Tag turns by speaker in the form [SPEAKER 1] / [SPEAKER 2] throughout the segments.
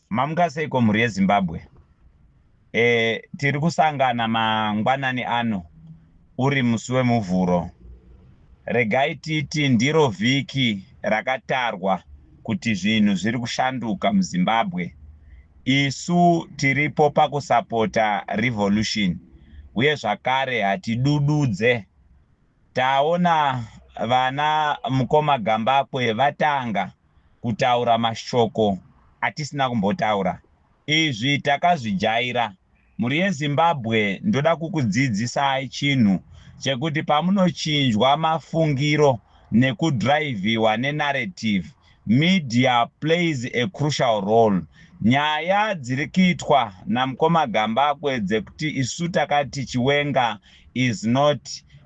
[SPEAKER 1] Mamuka seiko mhuri yeZimbabwe? E, tiri kusangana mangwanani ano uri musi weMuvhuro. Regai titi ndiro vhiki rakatarwa kuti zvinhu zviri kushanduka muZimbabwe. Isu tiripo pakusapota revolution uye zvakare hatidududze. Taona vana mukoma Gambakwe vatanga kutaura mashoko atisina kumbotaura izvi takazvijaira mhuri yezimbabwe ndoda kukudzidzisai chinhu chekuti pamunochinjwa mafungiro nekudriviwa nenarrative media plays a crucial role nyaya dziri kuitwa namukoma gambakwe dzekuti isu takati chiwenga is not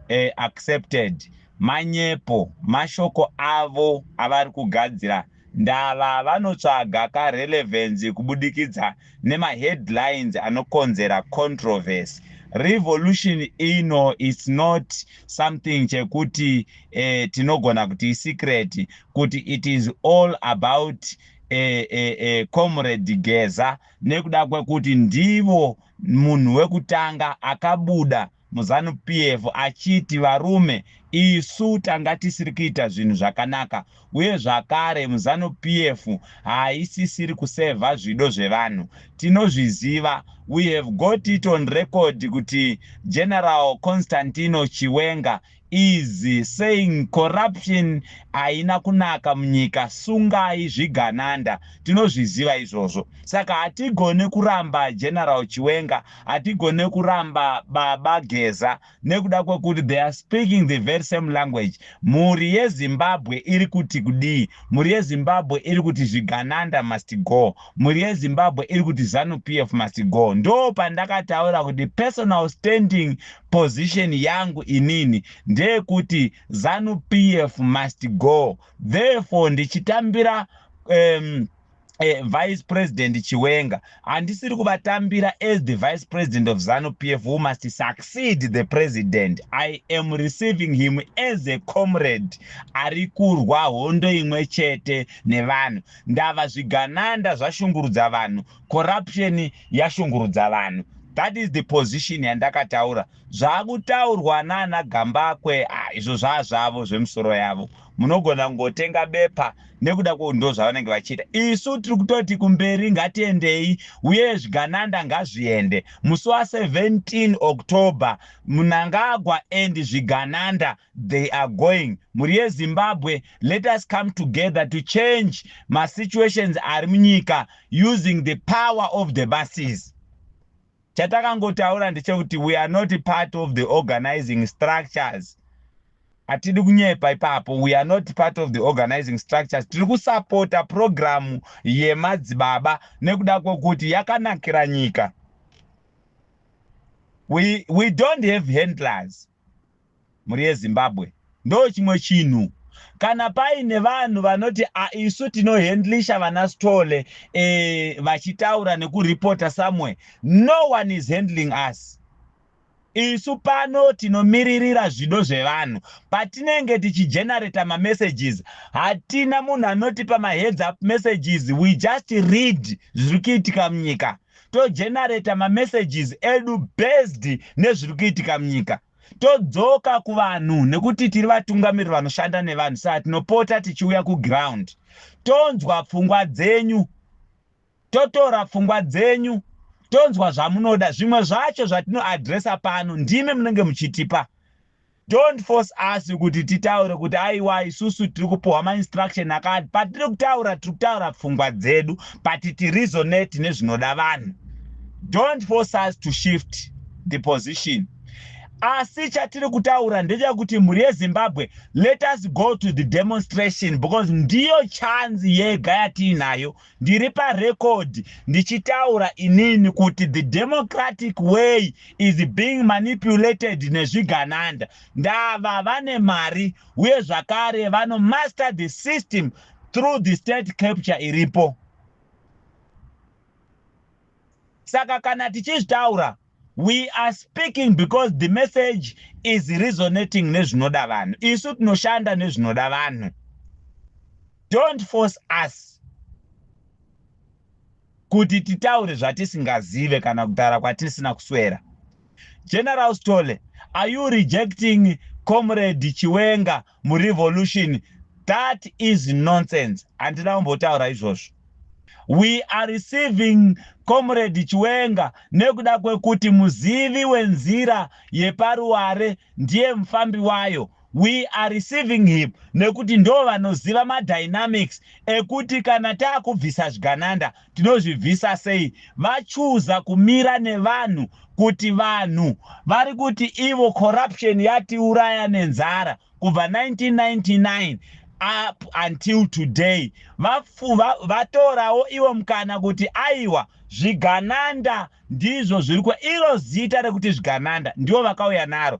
[SPEAKER 1] uh, accepted Manyepo mashoko avo avari kugadzira ndava vanotsvaga ka relevance kubudikidza nema headlines anokonzera controversy. Revolution ino it's not something chekuti eh, tinogona kuti i secret kuti it is all about eh, eh, eh, Comrade Geza nekuda kwekuti ndivo munhu wekutanga akabuda muZanu PF achiti varume isu tanga tisiri kuita zvinhu zvakanaka uye zvakare muZanu PF haisisiri kusevha zvido zvevanhu. Tinozviziva, we have got it on record kuti General Constantino Chiwenga is saying corruption haina kunaka munyika sungai zvigananda tinozviziva izvozvo saka hatigone kuramba general chiwenga hatigone kuramba baba geza nekuda kwekuti they are speaking the very same language mhuri yezimbabwe iri kuti kudii mhuri yezimbabwe iri kuti zvigananda must go mhuri yezimbabwe iri kuti zanu p f must go ndo pandakataura kuti personal standing Position yangu inini ndeyekuti Zanu PF must go therefore ndichitambira um, eh, vice president chiwenga handisiri kuvatambira as the vice president of zanu pf who must succeed the president i am receiving him as a comrade ari kurwa hondo imwe chete nevanhu ndava zvigananda zvashungurudza vanhu corruption yashungurudza vanhu that is the position yandakataura zvakutaurwa nana gambakwe ah, izvo zvaa zvavo zvemusoro yavo munogona kungotenga bepa nekuda kweu ndo zvavanenge vachiita isu tiri kutoti kumberi ngatiendei uye zvigananda ngazviende musi wa 17 october munangagwa and zvigananda they are going mhuri yezimbabwe let us come together to change masituations ari munyika using the power of the masses chatakangotaura ndechekuti we are not part of the organizing structures hatidi kunyepa ipapo we are not part of the organizing structures tiri kusapota purogiramu yemadzibaba nekuda kwekuti yakanakira nyika we, we don't have handlers mhuri yezimbabwe ndo chimwe chinhu kana paine vanhu vanoti isu tinohandlisha vana stole e, vachitaura nekuripota somewhere no one is handling us isu pano tinomiririra zvido zvevanhu patinenge tichigenerata mamessages hatina munhu anotipa maheads up messages we just read zviri kuitika munyika togenerator mamessages edu based nezviri kuitika munyika todzoka kuvanhu nekuti tiri vatungamiriri vanoshanda nevanhu saka tinopota tichiuya kuground tonzwa pfungwa dzenyu totora pfungwa dzenyu tonzwa zvamunoda zvimwe zvacho zvatinoadresa pano ndimi munenge muchitipa Don't force us kuti titaure kuti aiwa isusu tiri kupuhwa ma instruction akati. Patiri kutaura tiri kutaura pfungwa dzedu but ti resonate nezvinoda vanhu. Don't force us to shift the position. Asi chatiri kutaura ndechekuti mhuri yeZimbabwe let us go to the demonstration because ndiyo chance yega yatiinayo Ndiri parecord ndichitaura inini kuti the democratic way is being manipulated nezvigananda. Ndava vane mari uye zvakare vano master the system through the state capture iripo. Saka kana tichizvitaura We are speaking because the message is resonating nezvinoda vanhu. Isu tinoshanda nezvinoda vanhu. Don't force us kuti titaure zvatisingazive kana kutaura kwatisina kuswera. General Stole, are you rejecting Comrade Chiwenga murevolution that is nonsense handina kumbotaura izvozvo we are receiving comrade chiwenga nekuda kwekuti muzivi wenzira yeparuware ndiye mufambi wayo we are receiving him nekuti ndo vanoziva madynamics ekuti kana taakubvisa zvigananda tinozvibvisa sei vachuza kumira nevanhu kuti vanhu vari kuti ivo corruption yatiuraya nenzara kubva 1999 up until today vatorawo va, ivo mukana kuti aiwa zvigananda ndizvo zviri iro zita rekuti zvigananda ndivo vakauya naro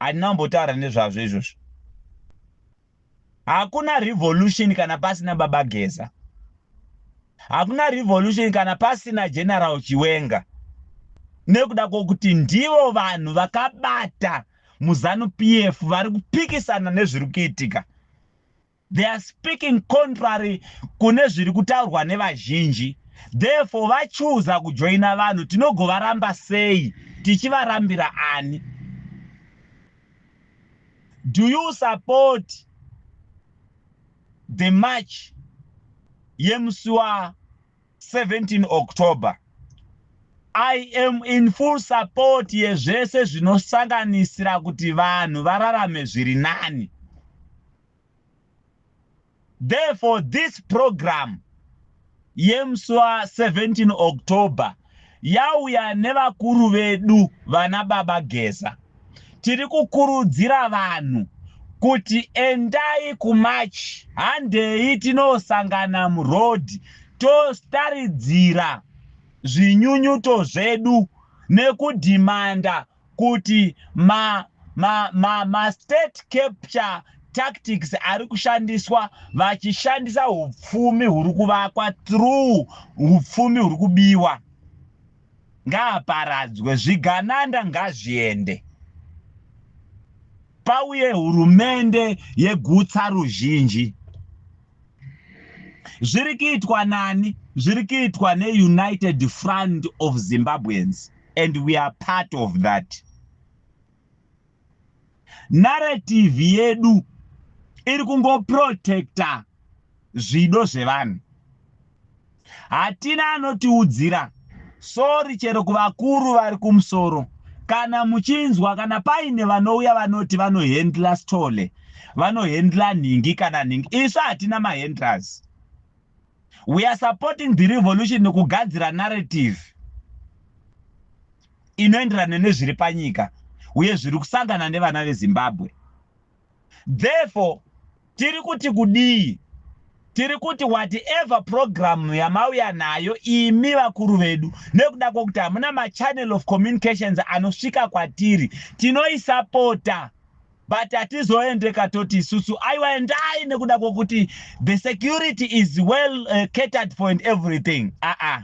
[SPEAKER 1] handina kumbotaura nezvazvo izvozvo hakuna revolution kana pasina baba geza hakuna revolution kana pasina general chiwenga nekuda kwokuti ndivo vanhu vakabata muzanu p f vari kupikisana nezviri kuitika they are speaking contrary kune zviri kutaurwa nevazhinji therefore vachuza kujoina vanhu tinogovaramba sei tichivarambira ani do you support the march yemusi wa 17 october i am in full support yezvese zvinosanganisira kuti vanhu vararame zviri nani Therefore, this program yemswa 17 October yauya nevakuru vedu vana baba Geza. Tiri kukurudzira vanhu kuti endai kumarch handei tinosangana muroad tostaridzira zvinyunyuto zvedu nekudhimanda kuti ma ma ma ma state capture tactics ari kushandiswa vachishandisa upfumi huri kuvakwa through upfumi huri kubiwa ngaaparadzwe zvigananda ngazviende pauye hurumende yegutsa ruzhinji zviri kuitwa nani zviri kuitwa neunited front of zimbabweans and we are part of that narrative yedu iri kungoprotecta zvido zvevanhu hatina anotiudzira sorry chero kuvakuru vari kumusoro kana muchinzwa kana paine vanouya vanoti vanohendla stole vanohendla nhingi kana nhingi isu hatina mahendlers we are supporting the revolution nekugadzira narrative inoenderana nezviri panyika uye zviri kusangana nevana vezimbabwe Therefore, tiri kuti kudii? Tiri kuti whatever program yamauya nayo imi vakuru vedu, nekuda kwekuti hamuna machannel of communications anosvika kwatiri, tinoisapota but hatizoende katoti isusu aiwa endai nekuda kwekuti the security is well uh, catered for and everything aa ah, ah.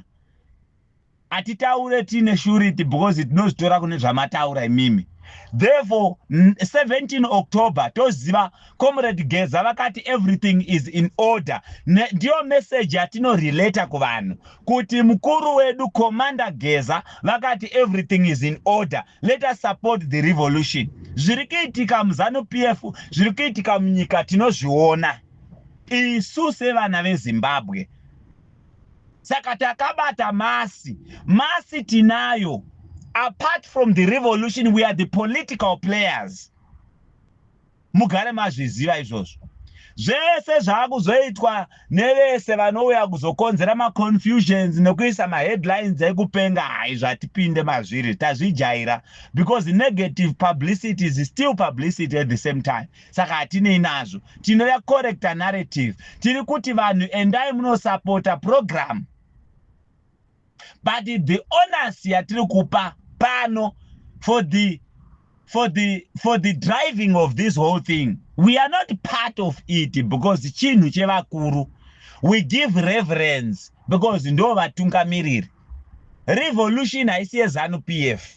[SPEAKER 1] Hatitaure tiine surety because tinozvitora kune zvamataura imimi. Therefore, 17 October toziva Comrade Geza vakati everything is in order. Ndiyo message yatinorelater kuvanhu kuti mukuru wedu Commander Geza vakati everything is in order. Let us support the revolution. Zviri kuitika muZanu PF, zviri kuitika munyika tinozviona. Isu sevana veZimbabwe saka takabata masi masi tinayo apart from the revolution we are the political players mugare mazviziva izvozvo zvese zvaakuzoitwa nevese vanouya kuzokonzera maconfusions nekuisa maheadlines ekupenga hai zvatipinde mazviri tazvijaira because negative publicity is still publicity at the same time saka hatinei nazvo tinoya correcta narrative tiri kuti vanhu endai munosapota program but the onus yatiri kupa pano for the for the for the driving of this whole thing we are not part of it because chinhu chevakuru we give reverence because ndo vatungamiriri revolution haisi yezanu p f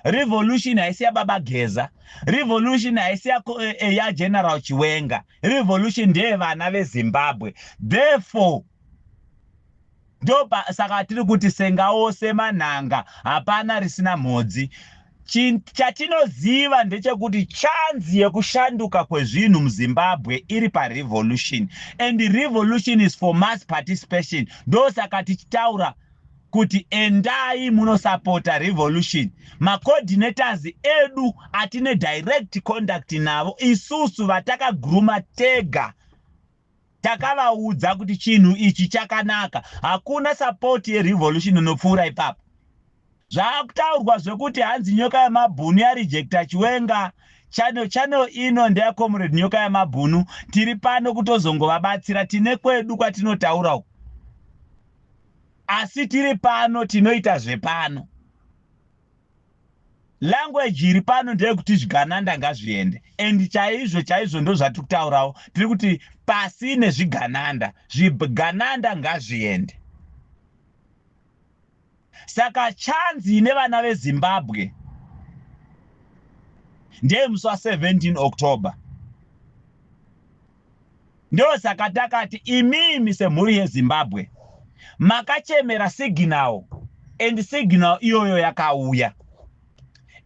[SPEAKER 1] revolution haisi yababa geza revolution haisi ya, eh, eh, ya general chiwenga revolution ndeye vana vezimbabwe therefore ndopa saka tiri kuti senga ose manhanga hapana risina mhodzi chatinoziva ndechekuti chanzi yekushanduka kwezvinhu muzimbabwe iri parevolution and revolution is for mass participation ndosaka tichitaura kuti endai munosapota revolution macoordinators edu atine direct conduct navo isusu vatakaguruma tega takavaudza kuti chinhu ichi chakanaka hakuna support yerevolution inopfuura ipapo zvaakutaurwa zvekuti hanzi nyoka yemabhunu yarejecta chiwenga channel channel ino ndeyacomrade nyoka yemabhunu tiri pano kutozongovabatsira tine kwedu kwatinotaura uku asi tiri pano tinoita zvepano language iri pano ndeyekuti zvigananda ngazviende and chaizvo chaizvo ndozvatiri kutaurawo tiri kuti pasi nezvigananda zvigananda ngazviende saka chanzi ine vana vezimbabwe ndeyemusi wa 17 october Ndosaka takati imimi semhuri yeZimbabwe makachemera signal and signal iyoyo yakauya.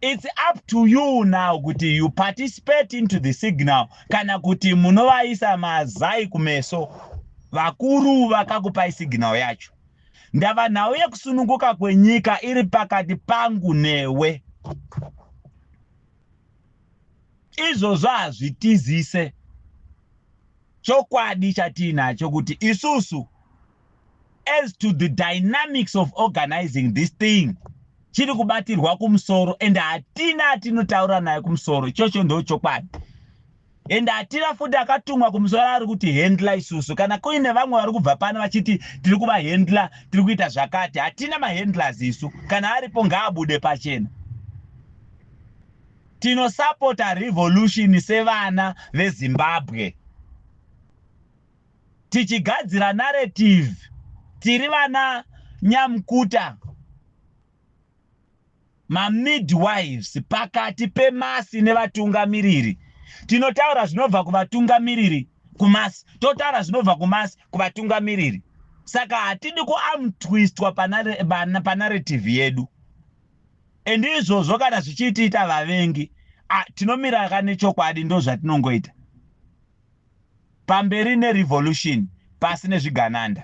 [SPEAKER 1] It's up to you now kuti you participate into the signal kana kuti munovaisa mazai kumeso. Vakuru vakakupai signal yacho. Ndava nhau yekusununguka kwenyika iri pakati pangu newe. izvozvo hazvitizise chokwadi chatiinacho kuti isusu as to the dynamics of organizing this thing chiri kubatirwa kumusoro and hatina atinotaura naye kumusoro ichocho ndo chokwadi and atira futi akatumwa kumusoro ari kuti handla isusu kana kuine vamwe vari kubva pano vachiti tiri kuva handla tiri kuita zvakati hatina mahandlers isu kana aripo ngaabude pachena tinosapota revolution sevana vezimbabwe tichigadzira narrative tiri vana nyamkuta mamidwives pakati pemasi nevatungamiriri. Tinotaura zvinobva kuvatungamiriri kumasi, totaura zvinobva kumasi kuvatungamiriri. Saka hatidi kuamtwistwa panarrative yedu. And izvozvo kana zvichiitiita vavengi, ah, tinomira ka nechokwadi ndozvatinongoita. Pamberi nerevolution pasi nezvigananda.